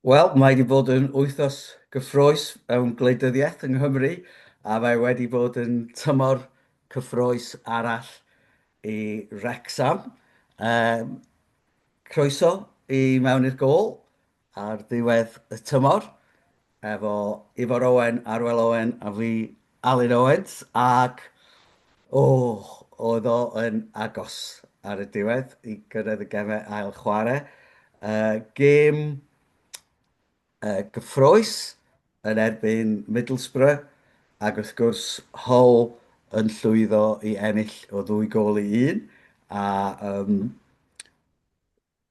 Wel, mae wedi bod yn wythnos gyffrous mewn gwleidyddiaeth yng Nghymru a mae wedi bod yn tymor cyffrous arall i Wrecsam. Ehm, croeso i mewn i'r gôl ar ddiwedd y tymor efo Ifor Owen, Arwel Owen a fi Alun Owens ac, o, oedd o yn agos ar y diwedd i gyrraedd y gemau ail chwarae. Uh, gêm uh, gyffroes yn erbyn Middlesbrough ac wrth gwrs Hull yn llwyddo i ennill o ddwy gol i un a um,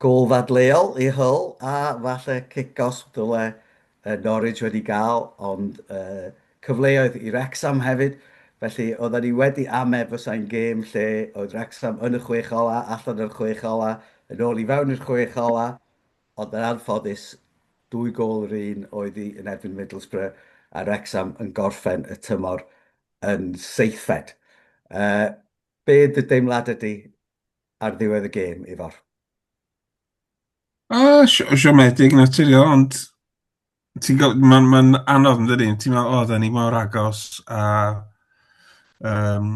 Gôl ddadleuol i Hull a falle cic-gosb ddyle Norwich wedi gael, ond cyfleoedd i Wrecsam hefyd. Felly, oedden ni wedi amau bysai'n gêm lle oedd Wrecsam yn y chwech ola', allan o'r chwech ola', yn ôl i fewn i'r chwech ola', ond yn anffodus, dwy gôl yr un oedd hi yn erbyn Middlesbrough, a Wrecsam yn gorffen y tymor yn seithfed. Be dy deimladau di? ar ddiwedd y gêm, Ifor? O, siomedig naturiol, ond mae'n ma anodd yn dydi. Ti'n meddwl, o, da ni mor agos a um,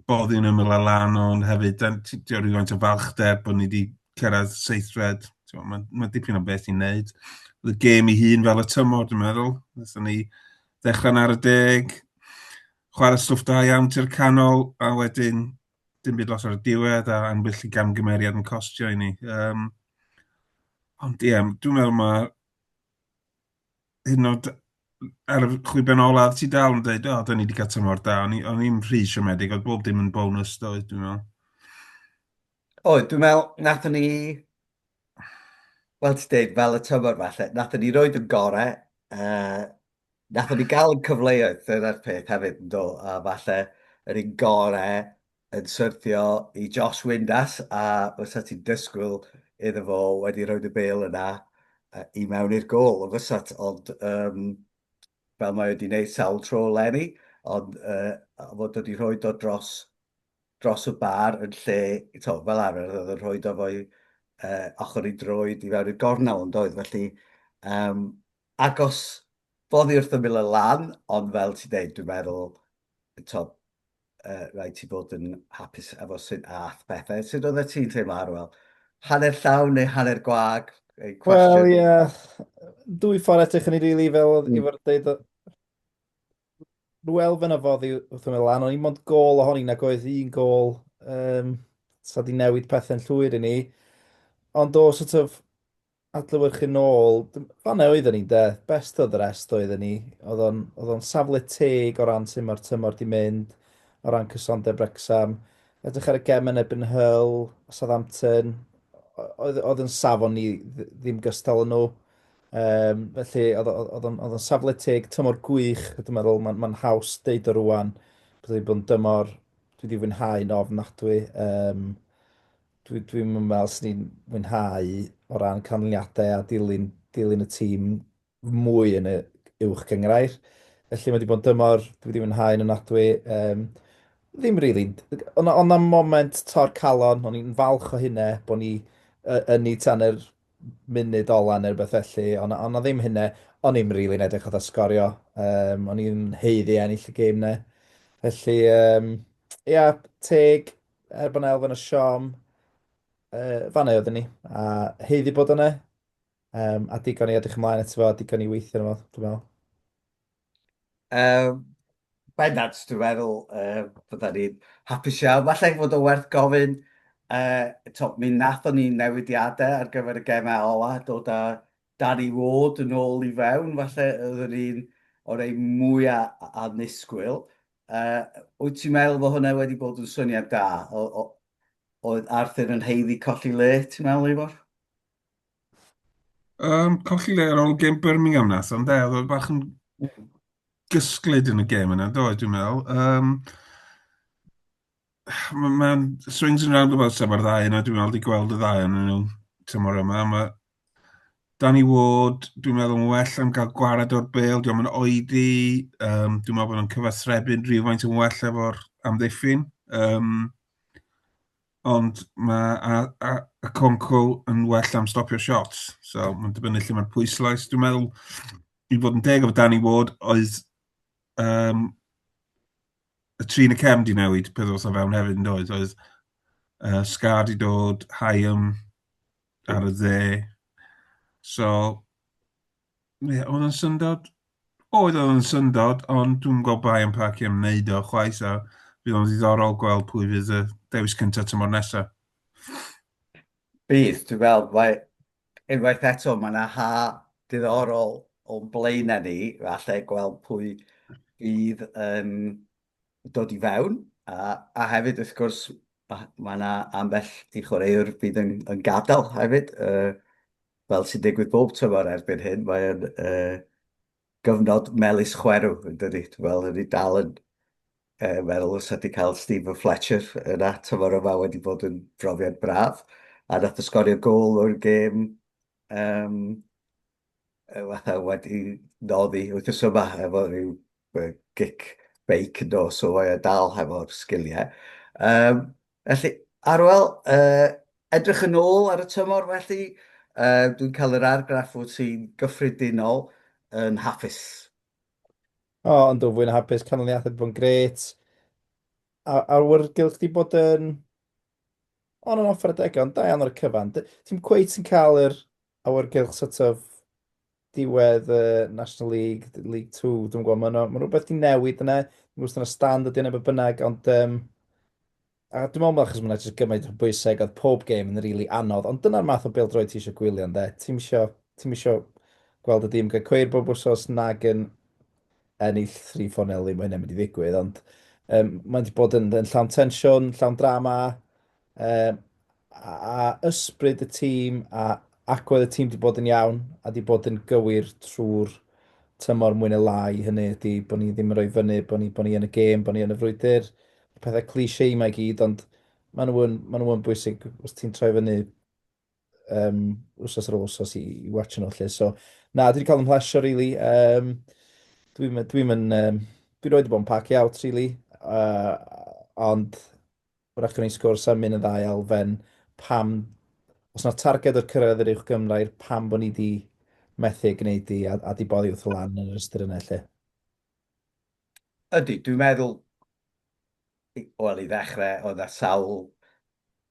boddi yn ymwyl a lan, ond hefyd, da, ti, ti o'r rhywfaint o falchder bod ni wedi cyrraedd seithfed. Mae'n ma dipyn o beth i'n neud. Oedd y gêm i hun fel y tymor, dwi'n meddwl. Nethon ni ddechrau'n ar y deg, chwarae stwff da iawn ti'r canol, a wedyn dim byd lot o'r diwedd a ambell i gamgymeriad yn costio i ni. Um, ond ie, yeah, dwi'n meddwl mae hyn oed ar y chwiben olaf ti dal yn dweud, o, oh, dyn ni wedi cael tymor da, o'n i'n rhy siomedig, oedd bob dim yn bonus doedd, dwi'n meddwl. Oedd, dwi'n meddwl, nath ni, wel ti'n dweud, fel y tymor falle, nath ni roed yn gorau, uh, Wnaethon ni gael yn cyfleoedd, dyna'r peth hefyd, yndo, a falle yr un gore yn syrthio i Josh Windass, a fysa ti'n dysgwyl iddo fo wedi rhoi y bel yna i mewn i'r gol, o fysat, ond um, fel mae wedi gwneud sawl tro Lenny, ond uh, fod wedi rhoi do dros, dros y bar yn lle, to, fel arfer, oedd yn rhoi do fo'i uh, ochr i droed i fewn i'r gornel, ond oedd, felly, um, agos boddi wrth ymyl y lan, ond fel ti'n deud, dwi'n meddwl, to, uh, rhaid ti fod yn hapus efo sy'n ath pethau. Sut oedd e ti'n teimlo, Arwel? Hanner llawn neu hanner gwag? Wel, ie. Yeah. Dwy ffordd eto chyn i rili fel mm. i fod dweud Rwyl fy nafodd i wrth ymwneud lan, ond i'n mond gol ohoni nag oedd un gol um, sa di newid pethau'n llwyr i ni. Ond o sort of adlewyrchu nôl, fanna oedden ni de, best of the rest oedden ni. Oedd o'n, oedd o'n safle teg o ran sut mae'r tymor di mynd, o ran cysondeb Wrexham. Edrych ar y gem yn ebyn hyl, Southampton, oedd, oedd yn safon ni ddim gystal yn nhw. Um, felly, oedd o'n safle teg, tymor gwych, dwi'n meddwl, mae'n ma haws deud o rwan, bod wedi bod yn dymor, dwi wedi fwynhau'n ofnadwy. Um, Dwi, dwi'm yn meddwl sy'n ni'n mwynhau o ran canlyniadau a dilyn, dilyn y tîm mwy yn y uwch gyngrair. Felly mae wedi bod yn dymor, dwi wedi mwynhau yn ynadwy. Um, ddim rili. Really. Ond on am moment tor calon, o'n i'n falch o hynne, bod ni uh, yn ni tan yr munud ola neu rhywbeth felly, ond on ddim hynne, o'n i'n rili really yn edrych oedd sgorio, um, o'n i'n heiddi ennill y gêm ne. Felly, um, ia, teg, er bod yna elfen o siom, uh, fanna oedden ni, a heiddi bod yna, um, a digon i edrych ymlaen eto fo, a digon i weithio yna fo, dwi'n meddwl. Um, bendant, dwi'n meddwl, uh, bydda ni'n hapus iawn. Falle fod o werth gofyn, uh, to, mi nathon ni newidiadau ar gyfer y gemau ola, dod â Dad i fod yn ôl i fewn, falle oedd yr un o rei mwya annisgwyl. Wyt ti'n meddwl bod hwnna wedi bod yn syniad da? Oedd Arthur yn heiddi colli le, ti'n meddwl, Ifor? Um, colli le ar ôl gêm Birmingham nes, ond e, oedd bach yn gysglyd yn y gêm yna, do, dwi'n meddwl. Um, Mae'n ma swings and roundabouts efo'r ddau yna, dwi'n meddwl, wedi gweld y ddau yna nhw tymor yma. Mae Danny Ward, dwi'n meddwl, yn well am gael gwared o'r bel, dwi'n meddwl, oedi. Um, dwi'n meddwl bod nhw'n cyfathrebu'n rhywfaint yn well efo'r amddiffyn. Um, ond mae a, a, a Conco yn well am stopio shots. So, mae'n dibynnu lle mae'r pwyslais. Dwi'n meddwl, i fod yn deg efo Danny Ward, oedd um, y tri yn y cefn di newid peth os o fewn hefyd yn doedd. Oedd uh, Scar di dod, Hyam ar y dde. So, ie, oedd yn syndod. Oedd oedd yn syndod, ond dwi'n gweld bai yn parcio am wneud o chwaith a bydd o'n ddiddorol gweld pwy fydd y dewis cyntaf tymor nesaf. Bydd, dwi'n meddwl, mae unwaith eto, mae yna ha diddorol o'n blaenau ni, falle gweld pwy bydd yn dod i fewn, a, a hefyd wrth gwrs mae yna ambell i chwaraewr bydd yn, yn gadael hefyd, uh, fel sy'n digwydd bob tymor erbyn hyn, mae'n uh, gyfnod melus chwerw yn dydy, fel ydy dal yn Yy, wel, os ydy cael Stephen Fletcher yn at y fore yma wedi bod yn brofiad braf, a nath o sgorio gol o'r gêm um, fatha wedi noddi wythnos yma efo rhyw gic beic yn dos o o'i dal hefo'r sgiliau. Um, felly, Arwel, uh, edrych yn ôl ar y tymor felly, uh, dwi'n cael yr argraff wyt ti'n gyffredinol yn hapus O, yn dwy fwy na hapus, canlyniadau wedi bod yn gret. A awyrgylch di bod yn on and off ar y degau, ond da iawn ar y cyfan. D- Ti'n cweit yn cael yr awyrgylch sort of diwedd y National League, d- League 2, dwi'n gwybod, mae'n ma' 'na rhywbeth di newid yna. Dwi'n gwybod os dyna stand ydi yna beth bynnag, ond um, A dwi'n meddwl ma' achos ma' 'na jyst gymaint o bwysau ag oedd pob gêm yn rili anodd, ond dyna'r math o bêl-droed ti isio gwylio ynde? Ti'm isio ti'm isio gweld y dîm gael cweir bob wsos nag yn ennill thri ffon eli, mae hynna'n mynd i ddigwydd, ond um, mae'n wedi bod yn, yn llawn tensiwn, llawn drama, um, a ysbryd y tîm a agwedd y tîm wedi bod yn iawn a wedi bod yn gywir trwy'r tymor mwy neu lai, hynny ydy bod ni ddim yn rhoi fyny, bod ni, bod ni yn y gêm, bod ni yn y frwydr, pethau cliché yma i gyd, ond maen nhw yn, maen nhw yn bwysig os ti'n troi fyny um, wrsos ar ôl wrsos i, i watch nhw lle. So, na, dwi wedi cael yn mhlesio, really. Um, dwi'n dwi um, dwi roed i bod yn pacio out, really. Uh, ond, Wrach gwneud sgwrs am un y ddau elfen, pam, os na targed o'r cyrraedd yr uwch gymrair, pam bod ni wedi methu ei gwneud hi a, a di boddi wrth y lan yn yr ystyr yna lle. Ydy, dwi'n meddwl, wel i ddechrau, oedd na sawl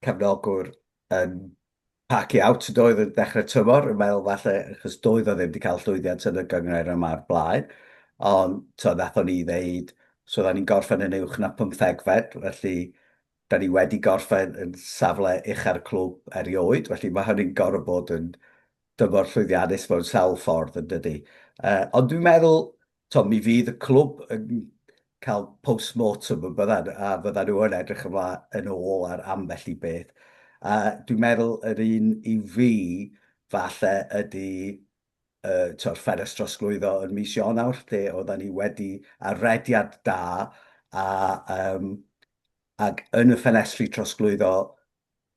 cefnogwr yn Park i out doedd yn dechrau tymor, yn meddwl falle achos doedd o ddim wedi cael llwyddiant yn y gynghrair yma o'r blaen, ond to wnaethon ni ddeud, so oedden ni'n gorffen yn uwch na pymthegfed, felly da ni wedi gorffen yn safle ucha'r clwb erioed, felly mae hynny'n gorfod bod yn dymor llwyddiannus mewn sawl ffordd yn dydy. Uh, ond dwi'n meddwl to, mi fydd y clwb yn cael post-mortem yn byddan, a fyddan nhw yn edrych yma yn ôl ar ambell i beth. A dwi'n meddwl yr un i fi, falle, ydy uh, to'r ffenest drosglwyddo yn mis Ionawr, lle oedden ni wedi ar rediad da, a, um, ac yn y ffenestri trosglwyddo,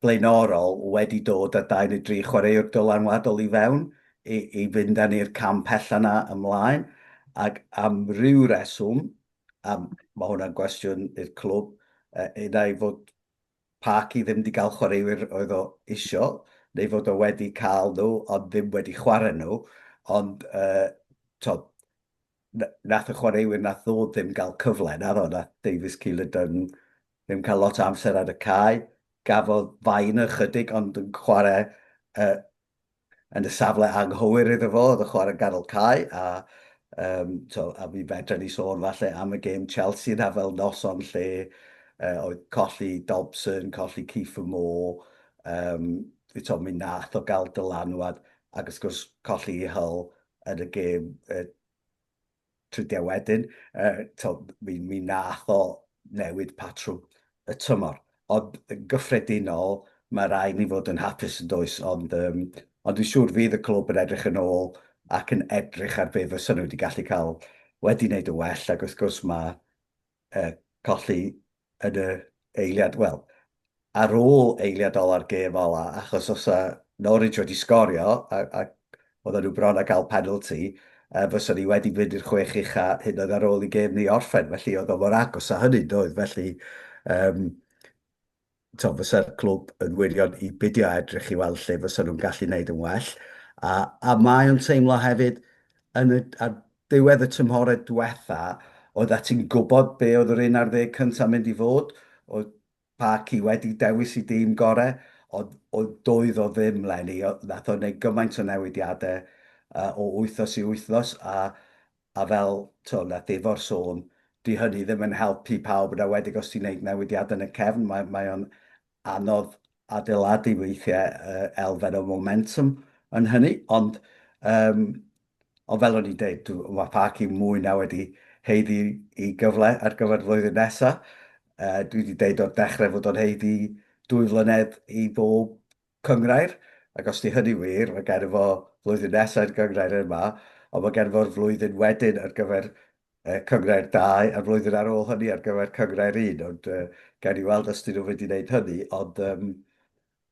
blaenorol wedi dod â dau neu dri chwaraewr dylanwadol i fewn i, i fynd â ni'r cam pell yna ymlaen, ac am ryw reswm, a mae hwnna'n gwestiwn i'r clwb, un ai fod Parky ddim wedi cael chwaraewyr oedd o isio, neu fod o wedi cael nhw ond ddim wedi chwarae nhw, ond uh, to, Wnaeth y chwaraewyr wnaeth ddod ddim gael cyfle, naddo? Wnaeth Davies Keeler-Dunn ddim cael lot o amser ar y cae. Gafodd Vine ychydig ond yn chwarae uh, yn y safle anghywir iddo fo, oedd y chwarae ganol cae, a, um, to, a mi fedra ni sôn falle am y gêm Chelsea na fel noson lle uh, oedd colli Dobson, colli Kieffer Moore, um, to, mi nath o gael dylanwad, ac wrth gwrs colli Hull, yn y gêm uh, tridiau wedyn, uh, to, mi, mi nath o newid patrwm y tymor. Ond yn gyffredinol, mae rai ni fod yn hapus yn does, ond, um, ond dwi'n siŵr fydd y clwb yn edrych yn ôl ac yn edrych ar be fysa nhw wedi gallu cael wedi wneud y well, ac wrth gwrs mae uh, colli yn y eiliad, wel, ar ôl eiliad ola'r gêm ola, achos os a Norwich wedi sgorio, a, a oedden nhw bron a gael penalty, uh, fysa ni wedi mynd i'r chwech ucha hyd yn oed ar ôl i gêm ni orffen, felly oedd o mor agos a hynny, doedd, felly um, tibod, fysa'r clwb yn wirion i beidio â edrych i weld lle fysa nhw'n gallu wneud yn well. A, a mae o'n teimlo hefyd, yn y, ar ddiwedd y tymhorau diwetha, oedd at ti'n gwybod be oedd yr un ar ddeg cyntaf mynd i fod, oedd Parky wedi dewis i dîm gorau, ond oedd doedd o ddim lenni, nath o wneud gymaint o newidiadau uh, o wythnos i wythnos, a A fel, t'o', wnaeth Ifor sôn, 'di hynny ddim yn helpu pawb, yn enwedig os ti'n wneud newidiadau yn y cefn. Mae, mae o'n anodd adeiladu weithiau uh, elfen o momentum yn hynny, ond um, ond fel o'n i'n dweud, mae Parc i mwy na wedi heiddi i gyfle ar gyfer flwyddyn nesaf. Uh, dwi wedi dweud o'r dechrau fod o'n heiddi dwy flynedd i bob Cynghrair, ac os 'di hynny wir, mae gennym fo flwyddyn nesa i'r gynghrair yma, ond mae gennym fo'r flwyddyn wedyn ar gyfer cynghrair dau, a'r flwyddyn ar ôl hynny ar gyfer cynghrair un, ond gawn ni weld os 'dyn nhw'n mynd i wneud hynny, ond yym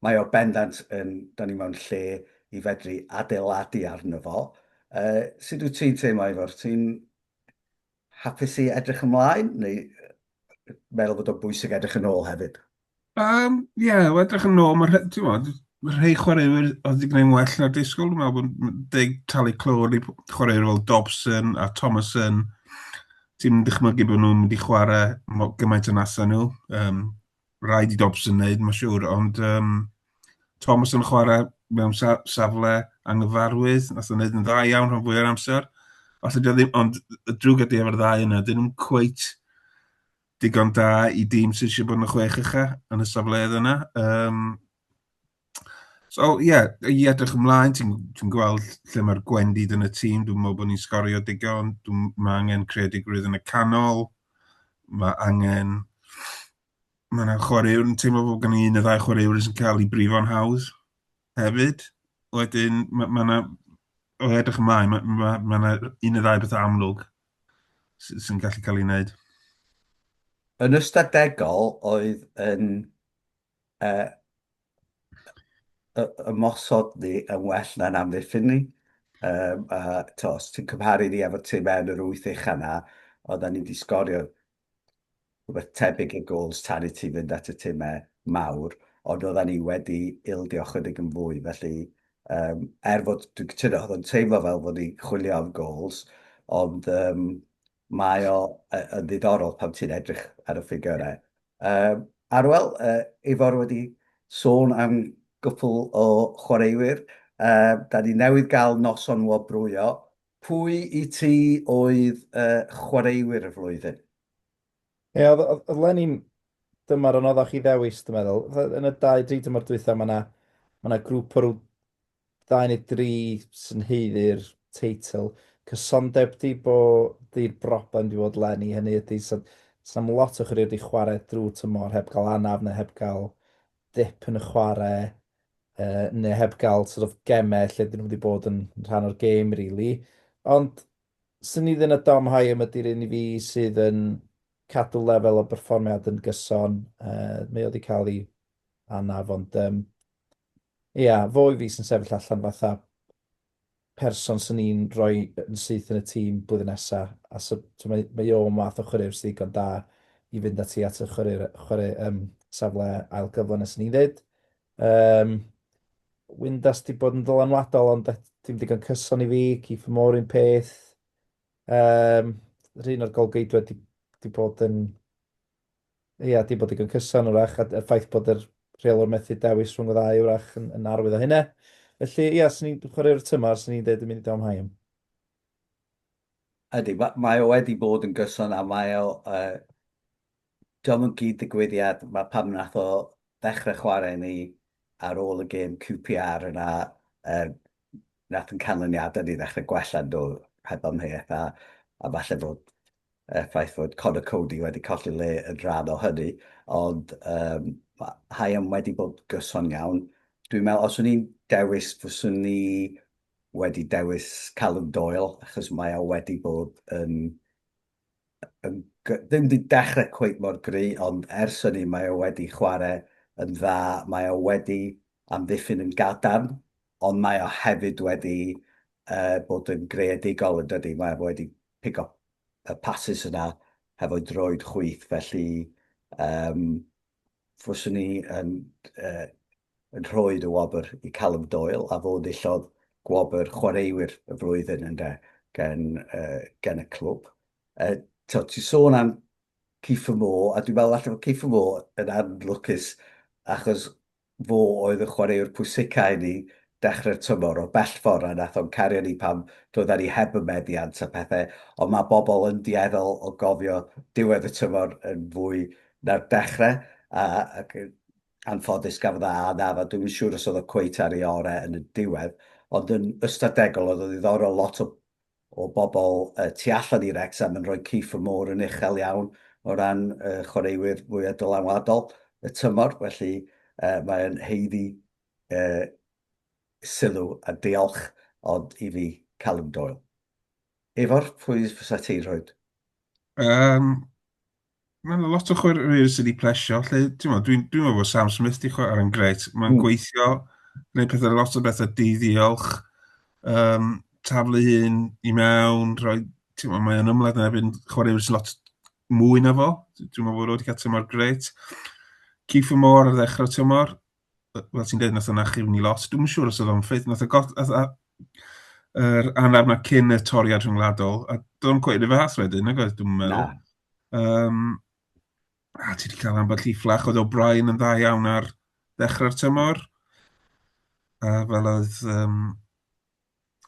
mae o bendant yn, 'dan ni mewn lle i fedru adeiladu arno fo. Yy, sut wyt ti'n teimlo Ifor? Ti'n hapus i edrych ymlaen, neu meddwl bod o'n bwysig edrych yn ôl hefyd? Yym, ie, o edrych yn ôl, ma' rhe- t'mod, ma' rhei chwaraewyr oedd 'di gwneud well na'r disgwyl, dwi'n meddwl bod m- deg talu clôr i p- chwaraewyr fel Dobson a Thomasson, ti'm yn dychmygu bod nhw'n mynd i chwarae mo- gymaint yn asa nhw, yym, rhaid i Dobson wneud, ma' siŵr, ond yym, Thomasson yn chwarae mewn sa- safle anghyfarwydd, nath o wneud yn dda iawn rhan fwya'r amser, falle 'di o ddim, ond y drwg ydi efo'r ddau yna, 'dyn nhw'm cweit digon da i dîm sydd eisiau bod yn y chwech ucha yn y safleoedd yna. Um, so, ie, yeah, i edrych ymlaen, ti'n ti gweld lle mae'r gwendid yn y tîm, dwi'n meddwl bod ni'n sgorio digon, mae angen creadigrwydd yn y canol, mae angen... Mae yna chwaraewr yn teimlo bod gen i un y ddau chwaraewr sy'n cael ei brifo'n hawdd hefyd. Wedyn, mae yna... Mae o edrych ymlaen, mae yna un y ddau beth amlwg sy'n gallu cael ei wneud. Yn ystadegol oedd yn uh, ymosod ni yn well na'n amddiffyn ni. Um, a to, os ti'n cymharu ni efo tîm mewn yr wyth eich yna, oedden ni wedi sgorio rhywbeth tebyg i gols chariti fynd at y timau mawr, ond oeddan ni wedi ildio chydig yn fwy, felly um, er fod dwi'n cytuno, oedd o'n teimlo fel fod ni'n chwilio am gols, ond um, mae o yn ddiddorol pan ti'n edrych ar y ffigurau. Um, Arwel, uh, Ifor wedi sôn am gwpl o chwaraewyr, uh, da ni newydd gael noson wobrwyo, Pwy i ti oedd y chwaraewyr y flwyddyn? Ie, oedd, oedd, oedd Lenin dymor anoddach chi ddewis, dwi'n meddwl. Yn y dau, dri dymor dwytha, mae yna ma na grŵp o rhyw ddau neu dri sy'n heiddi'r teitl. Cysondeb di bo di'r broblem di bod Lenny, hynny ydy, sy'n so, so, lot o chwaraewyr di chwarae drwy tymor heb gael anaf neu heb gael dip yn y chwarae yy neu heb gael sort of gemau lle dyn nhw wedi bod yn rhan o'r gêm rili. Ond swn i ddim yn Dom Hyam ydy'r un i fi sydd yn cadw lefel o berfformiad yn gyson. Uh, mae o wedi cael ei anaf ond um, ia, fo i fi sy'n sefyll allan fatha person swn i'n rhoi yn syth yn y tîm blwyddyn nesa, a so t'mo' mae mae o yn fath o chwaraewr sy ddigon da i fynd ati at y chwaraewr chware yym safle ail gyfle 'na swn i'n ddeud. Yym Windass 'di bod yn ddylanwadol ond et- dim digon cyson i fi, Keith Moore un peth. Yym rhun o'r golgeidwad 'di 'di bod yn Ia, 'di bod digon cyson wrach, a y ffaith bod yr rheolwr methu dewis rhwng y ddau wrach yn, yn arwydd o hynna. Felly, ia, sy'n ni'n chwaraewr tymor, sy'n ni'n dweud yn mynd i Dom Haim. Ydy, mae o wedi bod yn gyson a mae o... Uh, Diolch yn gyd digwyddiad, mae pam nath o ddechrau chwarae ni ar ôl y gêm QPR yna, uh, nath yn canlyniadau ni ddechrau gwella nhw heb amheuaeth a, a falle bod y ffaith fod Conor Coady wedi colli le yn rhan o hynny, ond um, Hyam wedi bod gyson iawn. Dwi'n meddwl, os o'n i'n dewis, fyswn ni wedi dewis Callum Doyle, achos mae o wedi bod yn... yn ddim wedi dechrau cweith mor gry, ond ers hynny mae o wedi chwarae yn dda, mae o wedi amddiffyn yn gadarn, ond mae o hefyd wedi uh, bod yn greadigol yn dydy, mae o wedi pick up y passes yna hefo'i droed chwith, felly um, fyswn i yn, uh, yn rhoi y wobr i Callum Doyle, a fo ddillodd gwobr chwaraewyr y flwyddyn yn de, gen, uh, gen y clwb. Uh, Ti'n sôn am Kiefer Moore, a dwi'n meddwl allan o Kiefer Moore yn anlwcus, achos Fo oedd y chwaraewr pwysica i ni dechre'r tymor, o bell ffor a nath o'n cario ni pan doeddan ni heb y meddiant a pethe, ond ma bobl yn dueddol o gofio diwedd y tymor yn fwy na'r dechre, a ac yn anffodus gafodd e A naf a dwi'm yn siŵr os oedd o cweit ar ei ore yn y diwedd, ond yn ystadegol oedd o'n ddiddorol lot o o bobl tu allan i Wrecsam yn rhoi Kiefer Moore yn uchel iawn o ran y chwaraewyr fwyaf dylanwadol y tymor, felly mae o'n haeddu sylw a diolch ond i fi, Callum Doyle. Ifor, pwy fysa ti'n rhoi? Yym, Mae yna lot o chwaraewyr sydd wedi plesio. Dwi'n dwi, dwi meddwl bod Sam Smith wedi chwarae ar yn gret. Mae'n mm. gweithio, gwneud pethau lot o bethau diddiolch, um, taflu hyn i mewn, rhoi, ma, mae yna ymlaen yna erbyn chwaraewyr sy'n lot mwy na fo. Dwi'n meddwl bod wedi cael tymor gret. Keith Moore ar ddechrau tymor, fel ti'n dweud, nath o'n achub ni lot. Dwi'n siŵr os oedd o'n ffit, nath o got... Yr anaf na cyn y toriad rhyngwladol, a dwi'n cweud y fath wedyn, nag oedd dwi'n meddwl. Um, a ti wedi cael ambell i fflach, oedd O'Brien yn dda iawn ar ddechrau'r tymor. A fel oedd um,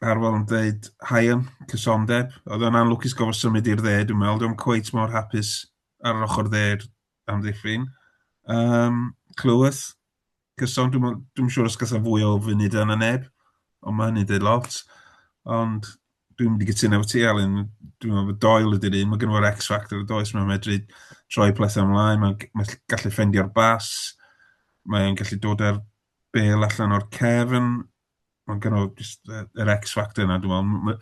Arwel yn dweud, Hayan, cysondeb. Oedd o'n anlwcus gofod symud i'r dde, dwi'n meddwl. Dwi'n cweud mor hapus ar yr ochr dde amddiffyn. Um, Clywys, Cyson, dwi'n dwi siŵr os gallai fwy o funud yna neb, ond mae hynny'n dweud lot. Ond dwi'n mynd i gytuno efo ti, Alun, dwi'n meddwl bod doel ydy'r un, mae gen i'r X-Factor y does, mae'n medru troi plethau ymlaen, mae'n mae gallu ffendio'r bas, mae'n gallu dod ar bel allan o'r cefn, Mae'n kind of just y yr X factor 'na dwi'n meddwl. M-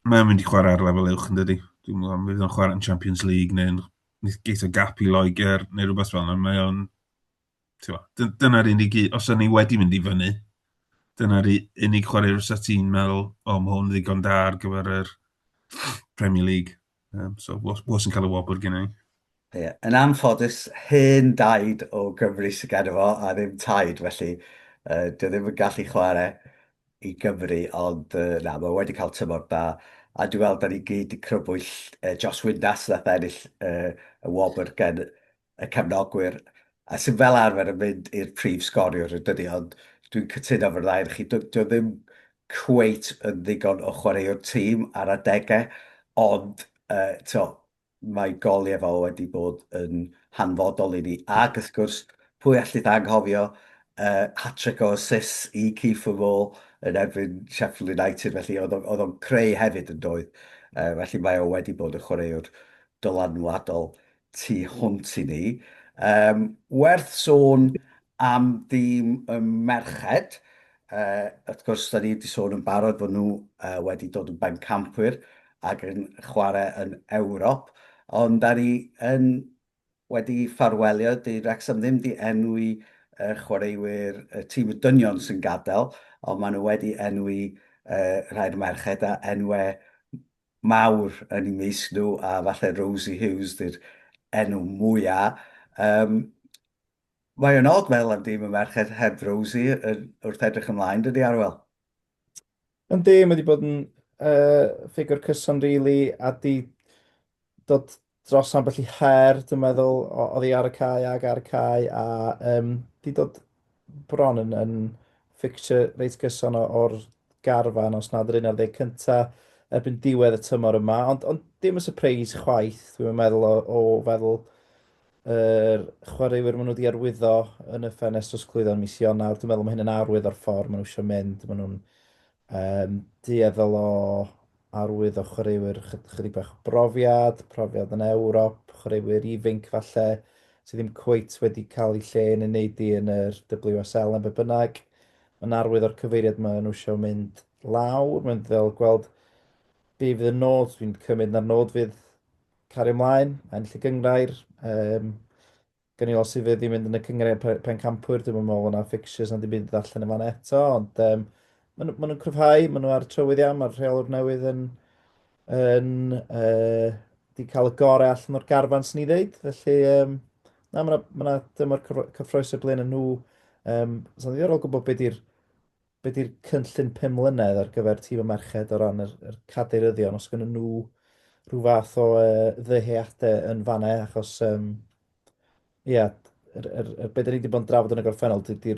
ma' mae o'n mynd i chwarae ar lefel uwch yn dydy. Dwi'n meddwl, fydd o'n chwarae yn Champions League neu'n nith- geisio gap i Loegr neu rhywbeth fel 'na. Mae o'n t'mo', dy- dyna'r unig u- os o'n ni wedi mynd i fyny, dyna'r u- unig chwaraewr fysa ti'n meddwl, 'O ma' hwn ddigon da ar gyfer yr Premier League.' Um, so, was yn cael y wobr gen i. Ie, yn anffodus, hen daid o Gymru sy'n gan efo, a ddim taid, felly uh, dwi ddim yn gallu chwarae i Gymru, ond uh, na, mae wedi cael tymor da, a dwi'n meddwl da ni gyd i crybwyll uh, Josh Windass nath ennill uh, y wobr gen y cefnogwyr a sydd fel arfer yn mynd i'r prif sgoriwr yn dydi, ond dwi'n cytuno efo'r ddau ohonoch chi, dyw e ddim cweit yn ddigon o chwaraewr tîm ar adegau, ond mae gol Iefa wedi bod yn hanfodol i ni. Ac wrth gwrs, pwy allith anghofio hat-trick o assists i Kieffer Moore yn erbyn Sheffield United, felly oedd o'n creu hefyd yn doedd. Felly mae o wedi bod yn chwaraewr dylanwadol tu hwnt i ni. Um, werth sôn am ddim y merched. Uh, wrth gwrs, da ni wedi sôn yn barod fod nhw uh, wedi dod yn bencampwyr ac yn chwarae yn Ewrop, ond da ni yn wedi ffarwelio, di Rexham ddim di enwi uh, chwaraewyr uh, tîm y dynion sy'n gadael, ond maen nhw wedi enwi uh, rhai'r merched a enwau mawr yn eu mysg nhw a falle Rosie Hughes di'r enw mwya. Yym mae o'n od meddwl am dîm y merched heb Rosie yn, wrth edrych ymlaen, dydy Arwel? Yndi, mae wedi bod yn uh, ffigwr cyson rili really, a di dod dros ambell i her, dwi'n meddwl, oedd hi ar y cae ag ar y cae, a um, di dod bron yn, yn fficture reit gyson o'r garfan, os nad yr un ar ddeg cynta, erbyn diwedd y tymor yma, ond, ond dim y surprise chwaith, dwi'n meddwl, o, o feddwl yr er chwaraewyr maen nhw wedi arwyddo yn y ffenest drosglwyddo yn mis Ionawr. Dwi'n meddwl mae hyn yn arwydd o'r ffordd maen nhw eisiau mynd. Maen nhw'n um, dueddol o arwydd o chwaraewyr chydig bach o brofiad, profiad yn Ewrop, chwaraewyr ifinc falle, sydd ddim cweit wedi cael ei lle yn ei wneud i yn yr WSL am be bynnag. Mae'n arwydd o'r cyfeiriad mae nhw eisiau mynd lawr, mae'n ddel gweld be fydd y nod, dwi'n cymryd na'r nod fydd cario ymlaen, ennill y gyngrair, um, Gen i os i fyd i mynd yn y cyngrau pe- pencampwyr, dwi'm yn meddwl bod 'na fixtures na dim byd i ddarllen yn fan eto, ond um, maen nhw- maen nhw'n cryfhau, maen nhw ar y trywydd iawn, mae'r rheolwr newydd yn, yn uh, di cael y gorau allan o'r garfan sy'n ni ddeud, felly um, na, mae yna ma' 'na dymor cyfro- cyffroes y blaen yn nhw. Um, Sa'n ddiddorol gwybod beth di'r Be di'r cynllun pum mlynedd ar gyfer tîm y merched o ran yr, yr cadeiryddion, os gynnyn nhw rhyw fath o uh, ddyheadau yn fanau, achos, um, ia, er, er, er, beth ni wedi bod yn drafod yn y gorffennol, di'r di,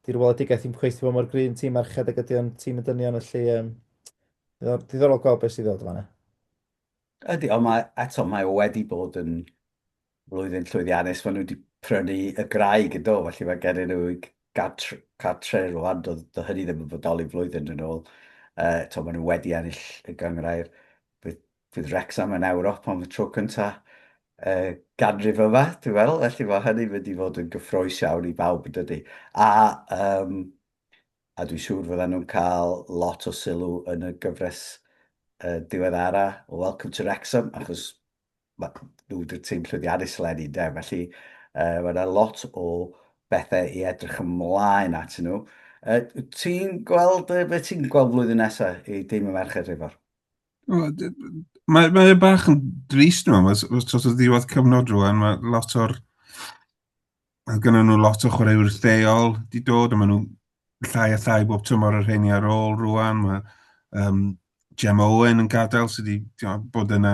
di weledigaeth i'n cweithio bod mor gryn tîm merched ag ydy o'n tîm y dynion, felly um, diddorol, diddorol gweld beth sydd ddod fanau. Ydy, ond mae, eto, mae o wedi bod yn flwyddyn llwyddiannus, maen nhw wedi prynu y graig yn do, felly mae gen nhw gartre, gartre rwan, do, do hynny ddim yn fodoli flwyddyn yn ôl. Uh, to, maen nhw wedi ennill y gyngrair bydd, bydd Rexham yn Ewrop am y tro cyntaf uh, ganrif yma, dwi'n meddwl, felly mae hynny'n mynd i fod yn gyffroes iawn i bawb yn dydy. A, um, a dwi'n siŵr fydden nhw'n cael lot o sylw yn y gyfres uh, diweddara o Welcome to Wrexham, achos Mae nhw wedi'r tîm llwyddiannus eleni, ynde? Felly, uh, mae yna lot o bethau i edrych ymlaen at nhw. Uh, ti'n gweld, uh, beth ti'n gweld flwyddyn nesaf i dîm y merched rhywbeth? Mae, mae bach yn drist nhw, mae sort of ddiwedd cyfnod rwan, mae lot o'r Mae gennyn nhw lot o chwaraewyr lleol wedi dod, a maen nhw'n llai a llai bob tymor o'r rheini ar ôl rwan. Mae um, Jem Owen yn gadael sydd wedi bod yna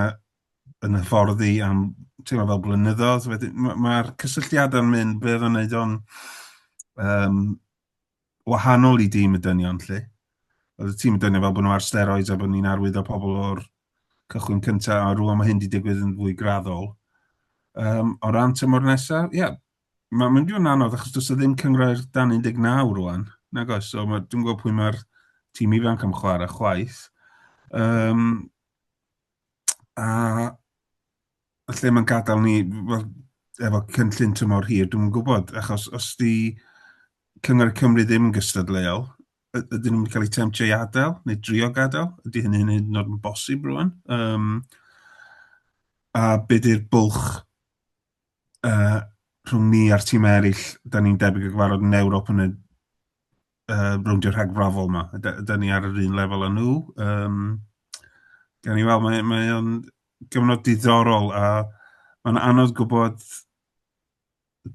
yn hyfforddi am teimlo fel blynyddoedd. Mae'r ma cysylltiadau'n mynd, be oedd yn neud o'n um, wahanol i dîm y dynion, lle. Oedd y tîm y dynion fel bod nhw ar steroids a bod ni'n arwyddo pobl o'r cychwyn cyntaf, a rwan mae hyn wedi digwydd yn fwy graddol. Um, o ran tymor nesaf, ie, yeah, mae'n mynd i fod yn anodd achos does ddim cyngrair dan 19 rwan, nag oes, so mae, dwi'n gwybod pwy mae'r tîm ifanc am chwarae chwaith. Um, a lle mae'n gadael ni, wel, efo cynllun tymor hir, dwi'n gwybod, achos os di Cyngor y Cymru ddim yn gystadleuol, ydyn nhw'n cael eu temtio i adael, neu drio gadael, ydy hynny'n hyn yn oed yn bosib rwan. Um, a be di'r bwlch uh, rhwng ni a'r tîm eraill, da ni'n debyg o gyfarfod yn Ewrop yn y uh, rowndio rhagfrafol yma. Da, da ni ar yr un lefel â nhw. Um, gan i weld, mae, mae o'n gyfnod diddorol a mae'n anodd gwybod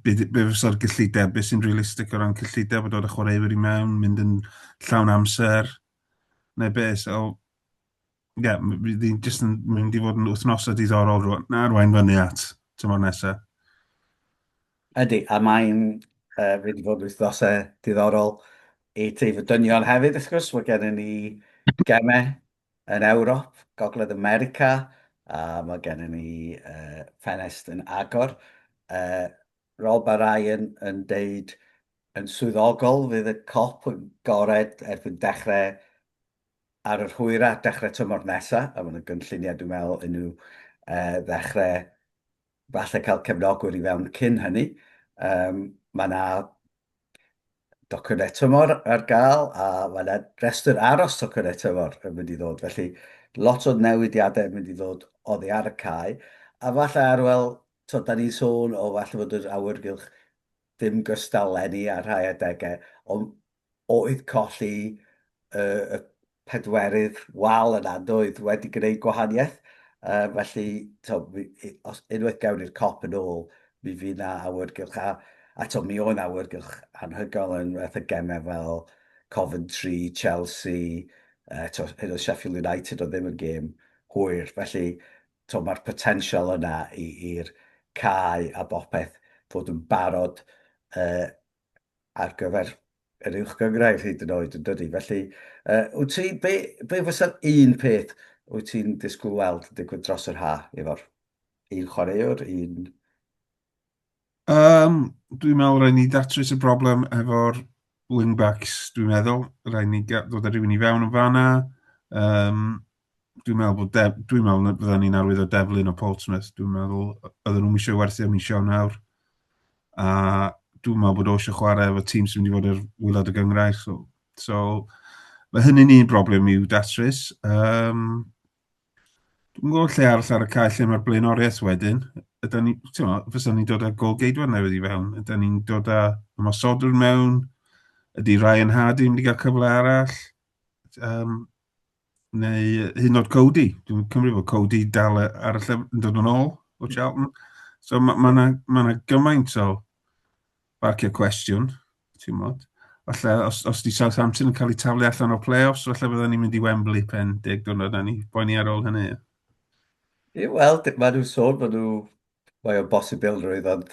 beth be fysa'r gyllideb, beth sy'n realistig o ran cyllideb o dod â chwaraewyr i mewn, mynd yn llawn amser, neu beth. So, ie, yeah, bydd hi'n jyst yn mynd i fod yn wythnosau diddorol rwan, na rwain fyny at tymor nesaf. Ydy, a mae'n uh, wedi bod wythnosau diddorol i teif y dynion hefyd, wrth gwrs. Mae gennym ni gemau Yn Ewrop, Gogledd America, mae gennym ni ffenest yn agor. Rob a Ryan yn deud yn swyddogol fydd y cop yn gored erbyn dechrau ar yr hwyraf, dechrau tymor nesaf, a mae 'na gynlluniau dwi'n meddwl i nhw ddechrau falle cael cefnogwr i fewn cyn hynny. Um, mae yna docynnau tymor ar gael a mae yna restr aros tocynnau tymor yn mynd i ddod. Felly lot o newidiadau yn mynd i ddod oddi ar y cae. A falle arwel, to, da ni'n sôn o falle fod yr awyrgylch ddim gystal lenni ar rhai adegau, ond Oedd colli y pedwerydd wal yna yn doedd wedi gwneud gwahaniaeth? Yy felly t'wod mi i- os unwaith gewn ni'r cop yn ôl mi fydd 'na awyrgylch a a t'wod mi oedd 'na awyrgylch anhygoel yn fatha gemau fel Coventry, Chelsea yy t'wod hyd yn oed Sheffield United oedd ddim yn gêm hwyr felly t'wod ma'r potensial yna i i'r cae a bopeth fod yn barod yy ar gyfer yr uwch gyngrair hyd yn oed, yn dydy? Felly, uh, wyt ti, be, be fysa'r un peth wyt ti'n disgwyl weld yn digwydd dros yr ha, efo'r un chwaraewr, un... Um, dwi'n meddwl rhaid ni datrys y broblem efo'r wing-backs, dwi'n meddwl. Rhaid ni ddod â rhywun i fewn yn fanna. Um, dwi'n meddwl bod def, dwi'n meddwl na fydden ni'n arwydd o deflun o Portsmouth, dwi'n meddwl oedden nhw'n eisiau werthu am eisiau nawr. A dwi'n meddwl bod o eisiau chwarae efo tîm sy'n mynd i fod ar wylod y gyngrair. So, so mae hynny'n un broblem i'w datrys. Um, dwi'n gwybod lle arall ar y cael lle mae'r blaenoriaeth wedyn. Ydy ni, ti'n meddwl, fysa ni'n dod â gol geidwad newydd i fewn. Ydy ni'n dod â ymosodwr mewn. Ydy Ryan Hardy yn mynd i gael cyfle arall. Um, Neu hyd yn oed Cody. Dwi'n cymryd bod Cody dal e- ar y lle yn dod yn ôl o Charlton. So mae ma' 'na ma' 'na gymaint o barcio cwestiwn, ti'n modd. Falle os os 'di Southampton yn cael eu taflu allan o'r play-offs, falle fydden ni'n mynd i Wembley pen deg diwrnod a ni poeni ar ôl hynny. Ie, wel, d- ma' nhw'n sôn bod nhw... Mae o'n bosibilrwydd, ond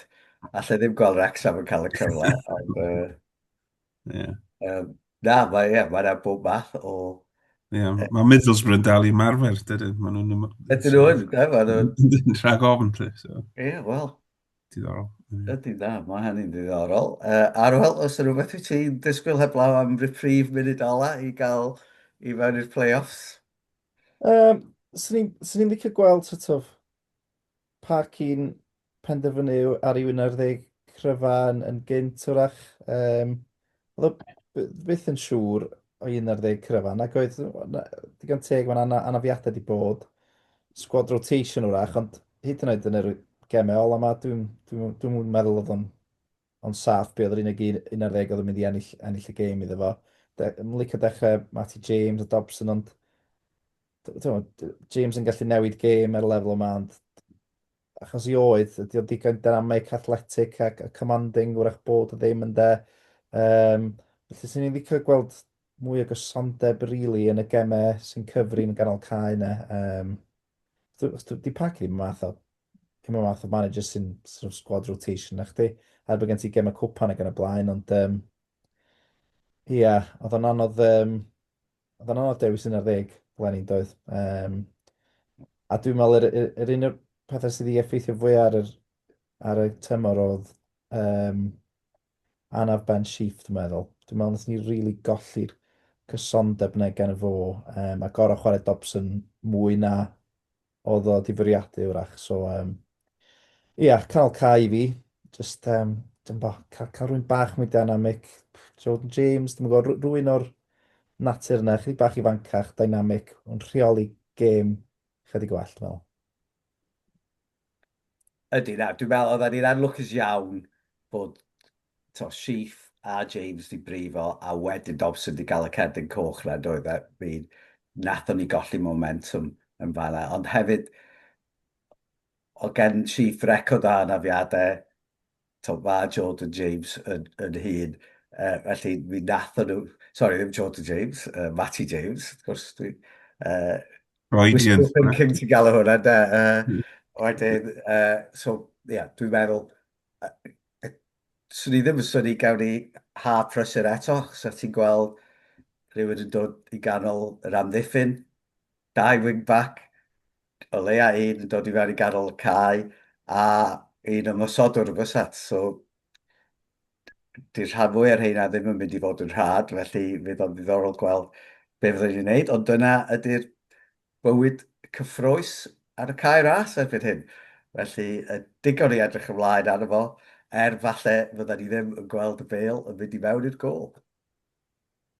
alla i ddim gweld Wrecsam yn cael y cyfle, ond yy Yeah. Um, na, mae yeah, ma yna bob math o... Yeah, uh, mae Middlesbrough yn dal i marfer, dydyn. Mae nhw'n... Ydyn nhw'n, da, mae nhw'n... Rhag ofn, ti. So. Ie, yeah, wel. Diddorol. Ydy, da, mae hynny'n diddorol. Uh, Arwel, os yna rhywbeth wyt ti'n disgwyl heblaw am reprieve munud ola i gael i fewn i'r play-offs? Um, Swn i'n licio gweld sort of Pa cyn penderfynu ar i wino'r ddeg cryfan yn gynt, wrach? Um, oedd byth yn siŵr o un ar ddeg cryfan, ac oedd digon teg mae'n anna, anafiadau di bod, squad rotation wrach, ond hyd yn oed yn yr gemau ola yma, dwi'n dwi, dwi, dwi, dwi meddwl oedd o'n ond saff be oedd yr unig un, un ar ddeg oedd yn mynd i ennill, ennill y gêm iddo fo. De, yn licio dechrau Matty James a Dobson, ond James yn gallu newid gêm ar y lefel yma, ond achos i oedd, ydy o'n digon dynamic, athletic ac a commanding, wrach bod o ddim yn de. Um, felly, sy'n ni'n ddico gweld mwy o gysondeb rili really, yn y gemau sy'n cyfri yn ganol cae yna. Um, di pac ddim math o ddim yn math o manager sy'n sort of squad rotation na chdi. Er bod gen ti gemau cwpan ac yn y blaen, ond um, ia, oedd o'n anodd um, Oedd yn anodd dewis un ar ddeg flaen doedd. Um, a dwi'n meddwl yr, yr, yr un o'r pethau sydd wedi effeithio fwy ar, yr, ar y tymor oedd um, anaf Ben Sheaf, dwi'n meddwl. Dwi'n meddwl nes ni rili really golli'r cysondeb na gan y fo, um, a gorau chwarae Dobson mwy na Oedd o 'di fwriadu 'w'rach, so yym ia, canol cae i fi. Jyst yym dwi'm bo, ca- cael rhywun bach mwy dynamic, Jordan James, dwi'm yn gwybod, rh- rhywun o'r natur yna, chydig bach ifancach, dynamic, yn rheoli gêm chydig gwell, dwi'n meddwl. Ydy, na, dwi'n meddwl, oedden ni'n anlwcus iawn bod to, Sheaf a James di brifo, a wedyn Dobson di gael y cerdyn coch na, doedd e, mi nathon ni golli momentum yn fanna, ond hefyd, o gen Sheaf record o anafiadau, tibod, ma' Jordan James yn, yn hun, uh, felly mi nathon nhw, sorry, ddim Jordan James, uh, Matty James, wrth gwrs, dwi, uh, Freudian. Wishful thinking ti'n galw hwnna, da. Uh, wedyn, uh, so, ie, yeah, dwi'n meddwl, uh, swn i ddim yn syni gawn ni ha prysur eto, so ti'n gweld rhywun yn dod i ganol yr amddiffyn, Dau wing-bac, o leia un yn dod i fewn i ganol y cae, a un ymosodwr yn fysat. So, dy'r rhan fwy ar heina ddim yn mynd i fod yn rhad, felly fydd o'n ddiddorol gweld be fyddwn ni'n neud. Ond dyna ydy'r bywyd cyffroes ar y cae ras erbyn hyn. Felly, y digon i edrych ymlaen arno fo, er falle fydda ni ddim yn gweld y bêl yn mynd i mewn i'r gôl.